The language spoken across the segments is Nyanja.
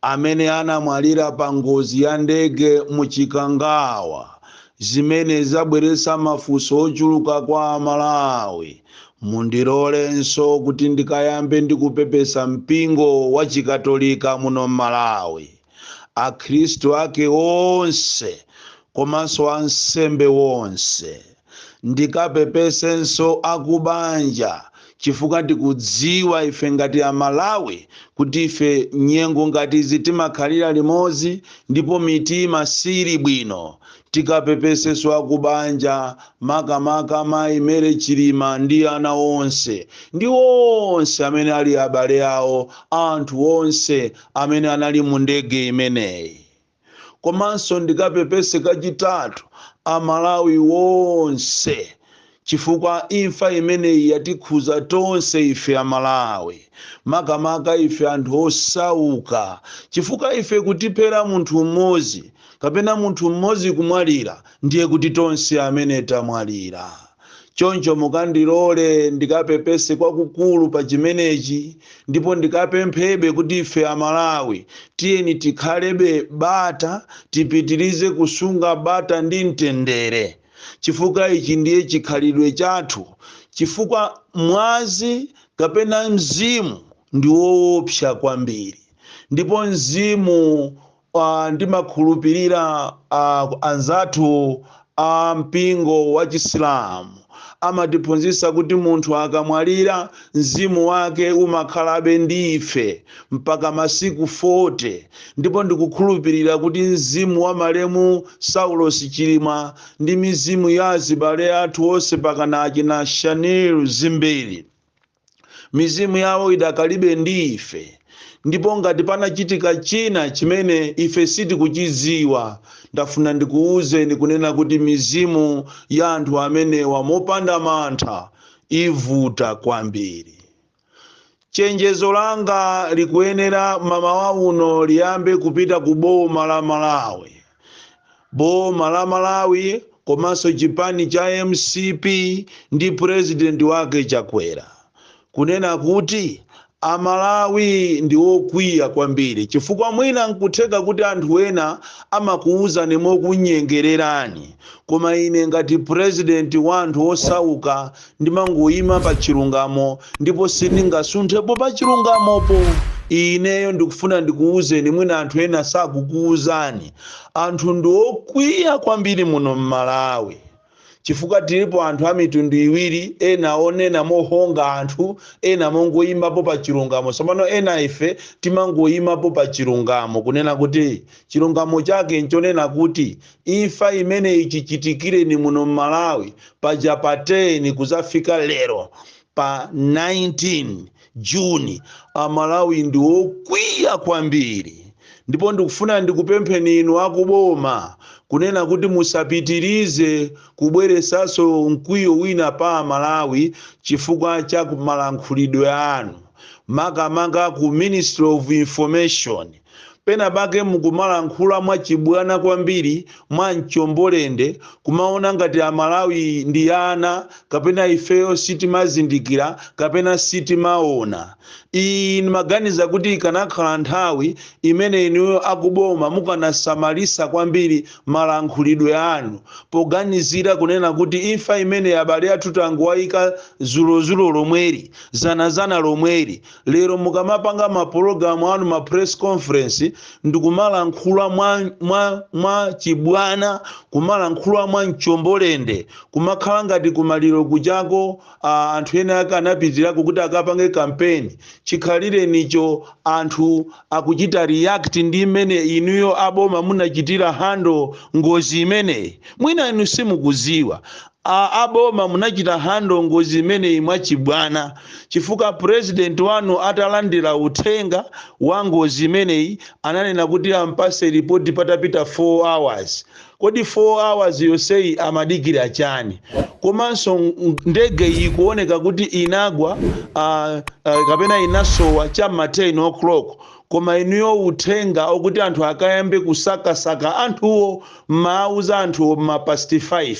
amene anamwalira pa ngozi ya ndege mu Chikangawa zimene zabweretsa mafunso ochuluka kwa a Malawi, mundilorenso kuti ndikayambe ndi kupepesa mpingo wa Chikatolika muno m'Malawi, akhristu ake onse komanso ansembe onse. ndikapepesenso akubanja chifukwa tikudziwa ife ngati amalawi kuti ife nyengo ngati izi timakhalira limodzi ndipo mitima siili bwino tikapepesenso akubanja makamaka mayi Mary Chilima ndi ana onse ndi onse amene ali abale awo anthu onse amene anali mu ndege imeneyi komanso ndikapepese kachitatu amalawi wonse chifukwa imfa imeneyi yatikhuza tonse ife amalawi makamaka ife anthu osauka chifukwa ife kutiphera munthu mmodzi kapena munthu mmodzi kumwalira ndiye kuti tonse amene tamwalira choncho mukandilole ndikapepese kwakukulu pa chimenechi ndipo ndikapemphebe kuti ife amalawi tiyeni tikhalebe bata tipitirize kusunga bata ndi mtendere chifukwa ichi ndiye chikhalidwe chathu chifukwa mwazi kapena mzimu ndi woopsa kwambiri ndipo mzimu Ndimakhulupirira anzathu a mpingo wa Chisilamu amatiphunzitsa kuti munthu akamwalira, mzimu wake umakhalabe ndi ife mpaka masiku 40, ndipo ndikukhulupirira kuti mzimu wa malemu Saulos Chilima ndi mizimu ya azibale athu onse pakana achina Shanil Dzimbiri, mizimu yawo idakalibe ndi ife ndipo ngati panachitika china chimene ife sitikuchidziwa ndafuna ndikuwuzeni kunena kuti mizimu ya anthu amenewa mopanda mantha ivuta kwambiri chenjezo langa likuyenera mamawa uno liyambe kupita ku boma la malawi boma la malawi komanso chipani cha mcp ndi purezidenti wake chakwera kunena kuti amalawi ndi okwiya kwambiri chifukwa mwina nkutheka kuti anthu ena amakuwuzani mokunyengererani koma ine ngati purezidenti wa anthu osauka Ndimangoima pa chirungamo, ndipo sindingasunthepo pa chirungamopo. Ineyo ndikufuna ndikuuzeni, mwina anthu ena sakukuuzani. Anthu ndi okwiya kwambiri muno m'Malawi chifukwa tilipo anthu a mitundu iwiri, ena onena mohonga anthu, ena mongoimapo pa chirungamo. Tsopano ena ife timangoimapo pa chirungamo, kunena kuti chirungamo chake nchonena kuti Imfa imeneyi chichitikireni muno Mmalawi paja pa 10 kuzafika lero pa 19 June amalawi ndi okwiya kwambiri ndipo ndikufuna ndikupempheni inu aku boma kunena kuti musapitirize kubweresanso mkwiyo wina pa amalawi chifukwa cha malankhulidwe anu makamaka ku ministry of information Pena pake mukumalankhula mwa chibwana kwambiri mwa mchombo lende kumaona ngati a Malawi ndi ana kapena ifeyo sitimazindikila kapena sitimaona. Iyi ndmaganiza kuti ikanakhala nthawi imene inuyo akuboma mukanasamalisa kwambiri malankhulidwe anu poganizira kunena kuti imfa imeneyi abale athu tangowaika zulo zulo lomweli, zana zana lomweli, Lero mukamapanga ma program anu ma press conference ndikumalankhula mwa, mwa, mwa chibwana kumalankhula mwa mchombolende kumakhala ngati kumaliro kuchako a, anthu ena ake anapitirako kuti akapange campaign chikhalirenicho anthu akuchita react ndi mmene inuyo aboma munachitira handle ngozi imeneyi mwina inu simukuziwa A a boma munachita handle ngozi imeneyi mwachibwana chifukwa president wanu atalandila uthenga wa ngozi imeneyi ananena kuti ampase report patapita 4 hours kodi 4 hours yonseyi amadikila chani komanso ndege iyi ikuoneka kuti inagwa uh, uh, kapena inasowa chamma 10:00 Koma inuyo uthenga okuti anthu akayambe kusakasaka anthuwo mmaauza anthuwo mma past 5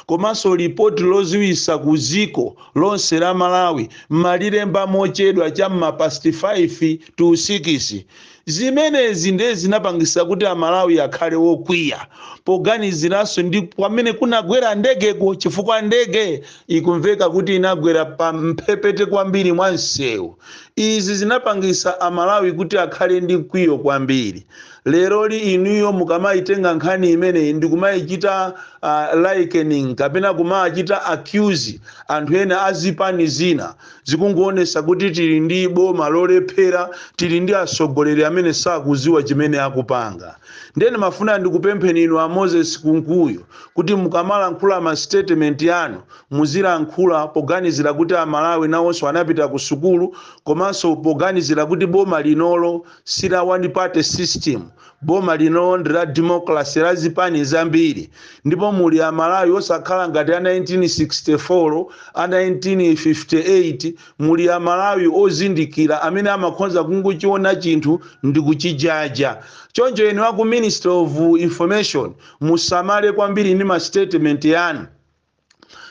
komanso lipoti loziwisa ku ziko lonse la malawi mmalilemba mochedwa cha mma past 5 to sikisi zimenezi nde zinapangisa kuti amalawi akhale okwiya poganizilanso ndi kwamene kunagwera ndegeko chifukwa ndege ikumveka kuti inagwera pa mphepete kwambiri mwa msewu. Izi zinapangisa a Malawi kuti akhale ndi mkwiyo kwambiri. Leroli inuyo mukamaitenga nkhani imeneyi ndikumayichita uh, likening kapena kumawachita accuse anthu ena a zipani zina zikungoonesa kuti tili ndi boma lolephera, tili ndi atsogoleri amene sakuziwa chimene akupanga. Ndiye ndimafuna ndikupempheni inu a Moses Kunkuyu kuti mukamalankhula ma statement anu muzilankhula poganizira kuti a Malawi nawonso anapita ku sukulu komanso poganizira kuti boma linolo si la one party system, boma linolo ndi la democracy la zipani zambiri ndipo muli a Malawi osakhala ngati a 1964, a 1958, muli a Malawi ozindikira amene amakhoza kungochiona chinthu ndikuchijaja. Choncho inu a ku Ministry of Information Musamale kwambiri ndi masitetimenti anu.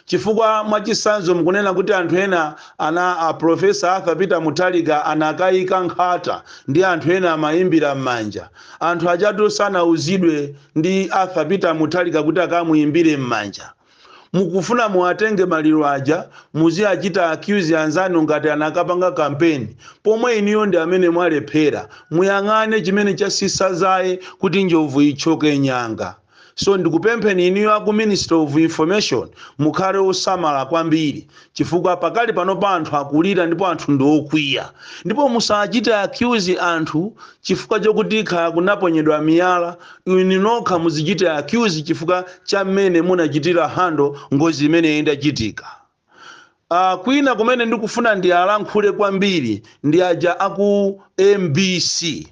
Chifukwa mwachitsanzo mukunena kuti anthu ena ana a Prof. Arthur Peter Mutharika anakaika nkhata ndi anthu ena amaimbira m'manja. Anthu ajatu sanauzidwe ndi Arthur Peter Mutharika kuti akamuimbire m'manja. Mukufuna muwatenge maliro aja muziachita accuse anzanu ngati anakapanga campaign pomwe inuyo ndi amene mwalephera. Muyang'ane chimene chasisa zaye kuti njobvu ithyoke nyanga. So ndikupempheni inuyo aku Ministry of Information mukhale osamala kwambiri Chifukwa pakali panopa anthu akulira ndipo anthu ndi okwiya. Ndipo musachite accuse anthu chifukwa chokuti kaya kunaponyedwa miyala, inu nokha mudzichite accuse chifukwa cha mmene munachitira handle ngozi imene idachitika. Aaa kwina kumene ndikufuna ndialankhule kwambiri ndi aja aku mbc.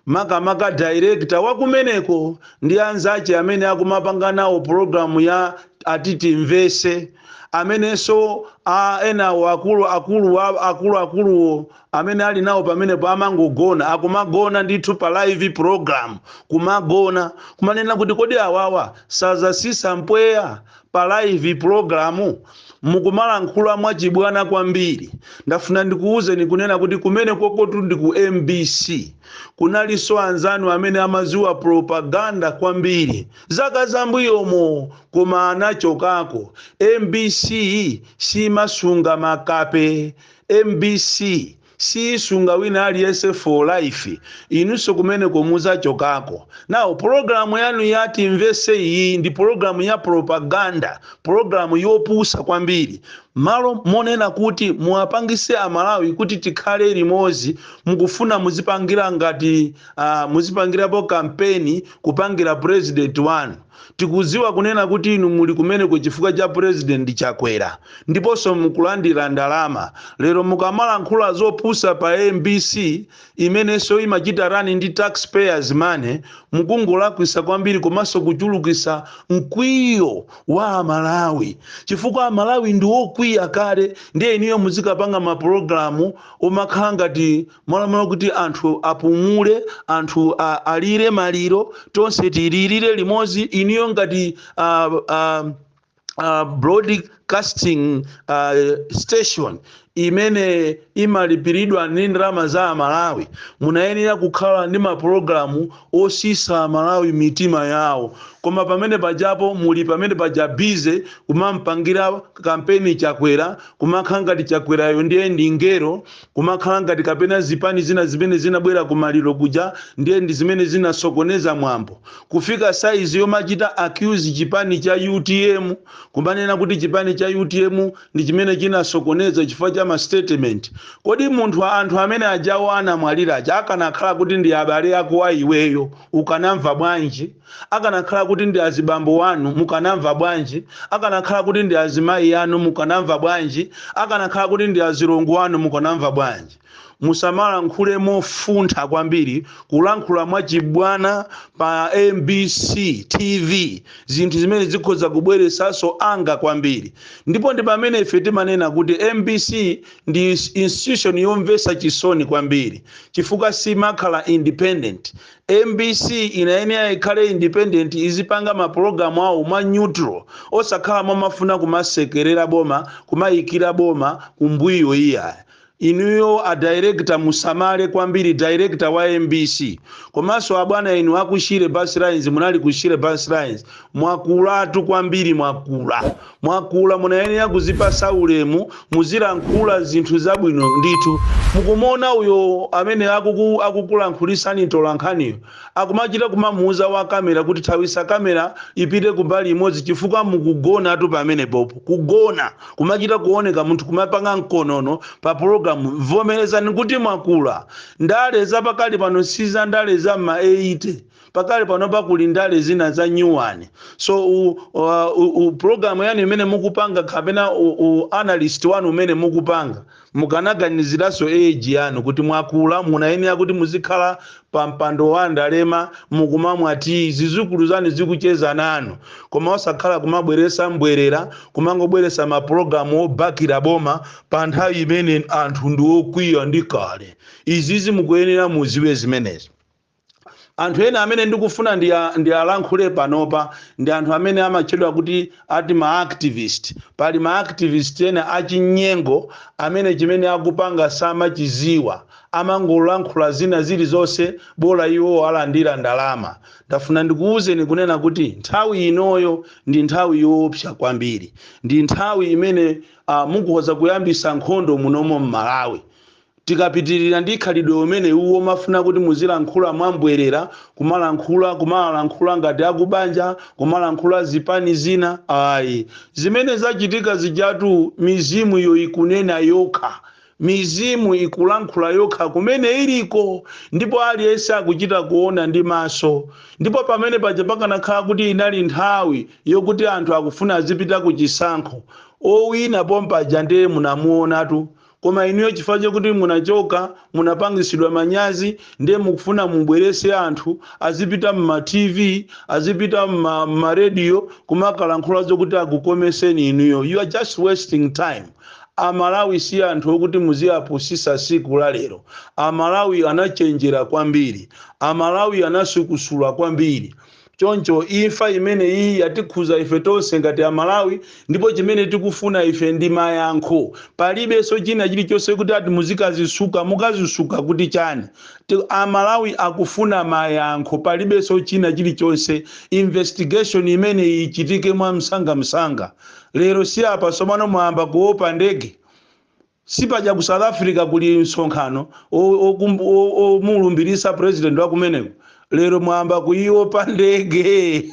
makamaka director wakumeneko ndi anzache amene akumapanga nawo program ya Timvese amenenso a enawo akulu akulu wa akulu akuluwo amene ali nawo pamenepo amangogona akumagona ndithu pa live program kumagona kumanena kuti kodi awawa sazasisa mpweya pa live program mukumalankhula mwachibwana kwambiri ndafuna ndikuwuzeni kunena kuti kumene kokotu ndi ku mbc kunalinso anzanu amene amaziwa propaganda kwambiri zaka zambuyomo koma anachokako mbc simasunga makape mbc siisunga wina aliyense for life inunso kumeneko muzachokako now pologalamu yanu ya timvese iyi ndi pologalamu ya propaganda pologalamu yopusa kwambiri malo monena kuti muwapangise amalawi kuti tikhale limozi mukufuna muzipangira ngati uh, muzipangirapo kampeni kupangira president wanu Tikuziwa kunena kuti inu muli kumeneko chifukwa cha president Chakwera ndiponso mukulandira ndalama. Lero mukamalankhula zopusa pa mbc imenenso imachita run ndi tax payers money mukungolakwisa kwambiri komanso kuchulukisa mkwiyo wa a Malawi chifukwa a Malawi ndi okwiya kale ndiye inuyo muzikapanga ma program omakhala ngati Mwalamula kuti anthu apumule, anthu a, alire maliro, tonse tilirire limodzi. Inuyo ngati uh, uh, uh, broadcasting uh, station imene imalipiridwa ndi ndalama za amalawi munayenera kukhala ndi mapulogalamu osisa amalawi mitima yawo koma pamene pajapo muli pamenepaja bize kumampangira kampeni chakwera kumakhala ngati chakwerayo ndiye ndi ngero Kumakhala ngati kapena zipani zina zimene zinabwera ku maliro kuja ndiye ndi zimene zinasokoneza mwambo kufika size yomachita accuse chipani cha utm, kumanena kuti chipani cha utm ndi chimene chinasokoneza chifukwa cha ma statement. Kodi munthu anthu amene ajawo anamwalira aja akanakhala kuti ndi abale ako a iweyo ukanamva bwanji? Akanakhala kuti ndi azibambo wanu mukanamva bwanji? Akanakhala kuti ndi azimayi anu mukanamva bwanji? Akanakhala kuti ndi azilongo anu mukanamva bwanji? Musamalankhule mofuntha kwambiri, kulankhula mwachibwana pa mbc tv zinthu zimene zikhoza kubweresaso anger kwambiri ndipo ndi pamene ife timanena kuti mbc ndi institution yomvesa chisoni kwambiri chifukwa simakhala independent Mbc inayenera ikhale independent izipanga ma program awo mwa neutral osakhala momafuna kumasekerera boma kumayikira boma kumbwiyo iyayi. Inuyo a director musamale kwambiri director wa mbc komanso abwana inu aku shire bus lines munali ku shire bus lines Mwakulatu kwambiri mwakula mwakula munayenera kuzipasa ulemu muzilankhula zinthu zabwino ndithu mukumuona uyo amene akuku akukulankhulisani mtolankhaniyo akumachita kumamuuza wa camera kuti thawisa camera ipite kumbali imodzi chifukwa mukugonatu pamenepopo kugona kumachita kuoneka munthu kumapanga mkonono pa program vomerezani kuti mwakula ndale zapakali pano sizandale za mma 80 pakali panopa kuli ndale zina za new one so u, u, u, u program yanu imene mukupanga kapena u, u analyst wanu umene mukupanga mukanaganiziranso age yanu kuti mwakula munayenera kuti muzikhala pa mpando wa ndalema mukumamwa tiyi zizukulu zanu zikucheza nanu koma osakhala kumabweresa mbwerera kumangobweresa mapulogalamu obakira boma pa nthawi imene anthu ndi okwiya ndi kale izizi mukuyenera muziwe zimenezo Anthu ena amene ndikufuna ndiya ndiyalankhule panopa ndi anthu amene amatchedwa kuti ati ma activist. Pali ma activist ena achinyengo amene chimene akupanga samachiziwa. Amangolankhula zina zilizonse bola iwowo alandira ndalama. Ndafuna ndikuuzeni kunena kuti nthawi inoyo ndi nthawi yoopsa kwambiri. Ndi nthawi imene a mukhoza kuyambisa nkhondo munomo m'Malawi. Tikapitirira ndi khalidwe umeneu omafuna kuti muzilankhula mwa mbwerera, kumalankhula, kumawalankhula ngati akubanja, kumalankhula zipani zina, ayi. Zimene zachitika zijatu mizimu iyo ikunena yokha. Mizimu ikulankhula yokha kumene iliko ndipo aliyense akuchita kuona ndi maso. Ndipo pamene paja pakanakhala kuti inali nthawi yokuti anthu akufuna azipita ku chisankho, owina pompaja ndiye munamuonatu Koma inuyo chifukwa chokuti munachoka, munapangitsidwa manyazi ndiye mukufuna mubweretse anthu azipita mma TV, azipita mma radio kumakalankhula zokuti akukometseni inuyo. You are just wasting time. A Malawi si anthu okuti muziapusitsa tsiku la lero. A Malawi anachenjera kwambiri. A Malawi anasukusula kwambiri. Choncho imfa imeneyi yatikhuza ife tonse ngati a Malawi ndipo chimene tikufuna ife ndi mayankho. Palibenso china chilichonse kuti ati muzikazisuka, mukazisuka kuti chani? A Malawi akufuna mayankho palibenso china chilichonse. Investigation imeneyi ichitike mwamsangamsanga. Lero si apa tsopano mwayamba kuopa ndege? Sipaja ku South Africa kuli msonkhano omulumbilitsa president wakumeneko, lero mwayamba kuyiopa ndege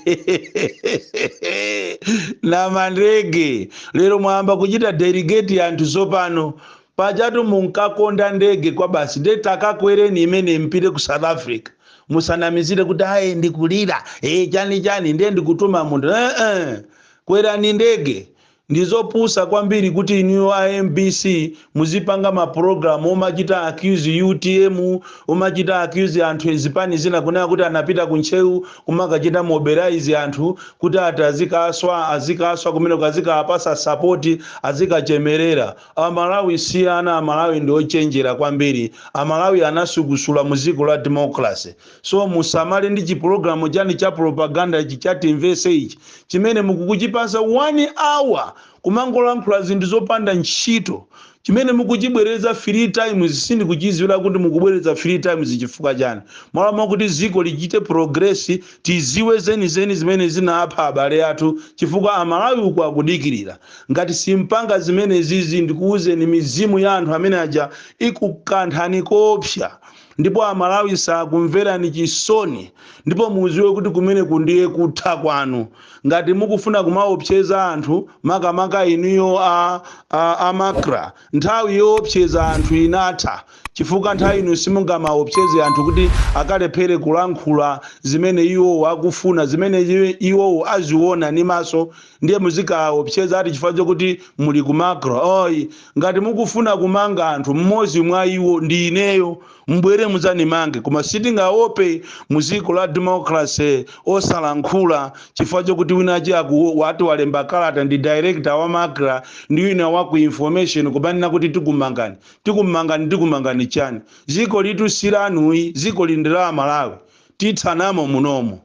namandege, lero mwayamba kuchita delegate anthu tsopano, pajatu munkakonda ndege kwabasi, nde takakwereni imeneyi mupite ku South Africa, musanamizire kuti ayi ndikulira ee chani chani ndiye ndikutuma munthu eeh kwerani ndege Ndizopusa kwambiri kuti inuyo a mbc muzipanga ma program omachita accuse utm, omachita accuse anthu a zipani zina kunena kuti anapita ku Ntcheu kumakachita mobilize anthu kuti ati azikaswa, azikaswa kumeneko, azikawapasa support, azikachemelera. A Malawi si ana, a Malawi ndi ochenjera kwambiri. A Malawi anasukusula mu dziko la democracy. So musamale ndi chi program chani cha propaganda ichi cha timvese ichi chimene mukukuchipasa 1 hour kumangolankhula zinthu zopanda ntchito chimene mukuchibwereza 3 times sindikuchiziwila kuti mukubwereza 3 times chifukwa chani malo mwakuti ziko lichite progress tiziwe zenizeni zimene zinapha abale athu chifukwa amalawi uku akudikilila ngati simupanga zimenezizi ndikuuzeni mizimu ya anthu amene aja ikukanthani koopsa ndipo amalawi sakumverani chisoni ndipo muziwe kuti kumeneku ndiye kutha kwanu ngati mukufuna kumaopseza anthu makamaka inuyo a, a, a macra nthawi yoopseza anthu inatha chifukwa nthawi ino simungamaopseze anthu kuti akalephere kulankhula zimene iwowo akufuna zimene iwowo aziona ni maso ndiye muzikaopseza ati chifukwa chokuti muli ku macra oyi ngati mukufuna kumanga anthu mmodzi mwa iwo ndi ineyo mbwere mudzanimange koma sitingaope mu dziko la democracy osalankhula chifukwa chokuti winachi aku- wati walemba kalata ndi director wa macra ndi wina wa ku information kumanena kuti tikumangani tikumangani tikumangani chani dziko ilitu si lanuyi dziko ili ndi la amalawi tithanamo munomo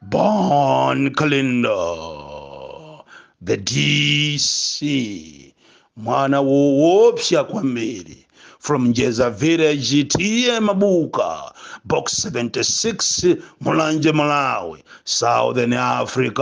Bon Kalindo, the DC, mwana woopsa kwambiri from Njeza Village, TA Mabuka, Box 76, Mulanje, Malawi, Southern Africa.